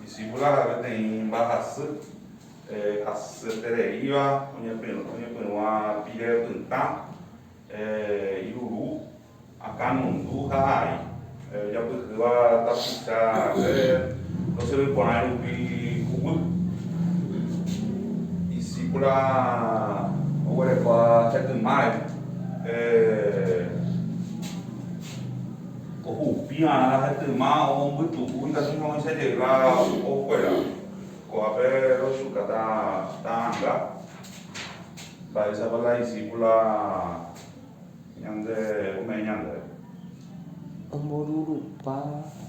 Disípula peteĩ mba'asy hasetereíva oñepyrũa pire pytã, iruru, akãnundu ha ai. Ojapyhýva tapicha rape ndosýrvi porãi rupi huguy. Disípula oguerekua hetymárõ. Ko upíva la gente yma omombytu'u ikatu hag̃ua oichajega o kuéra. Ko'ápe roichuka ta ta'anga, mba'éichapa la disípula ñande ome'ẽ ñandéve. Omborurupa hag̃ua.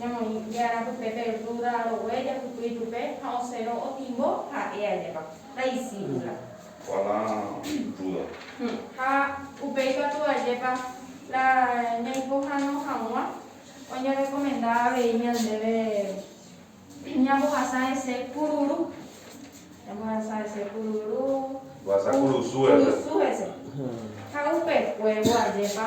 Ñamoĩ je'arã pype pe rrúda rogue jahupy ichupe ha osero otimbo ha'e ajépa. La discípula. Opa la rrúda. Ha upéi katu ajépa la ñaipohãno hag̃ua oñerekomenda avei ñandéve ñambohasa hese kururu. Ñambohasa hese kururu. Mbohasa kurusu hese. Ha upe kuévo ajépa.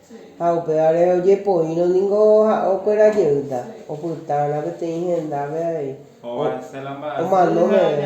Ha upévare ojepoírõ ningo ha'õ kuéra jeýta, opytárõ peteĩ hendápe avei, omano meve.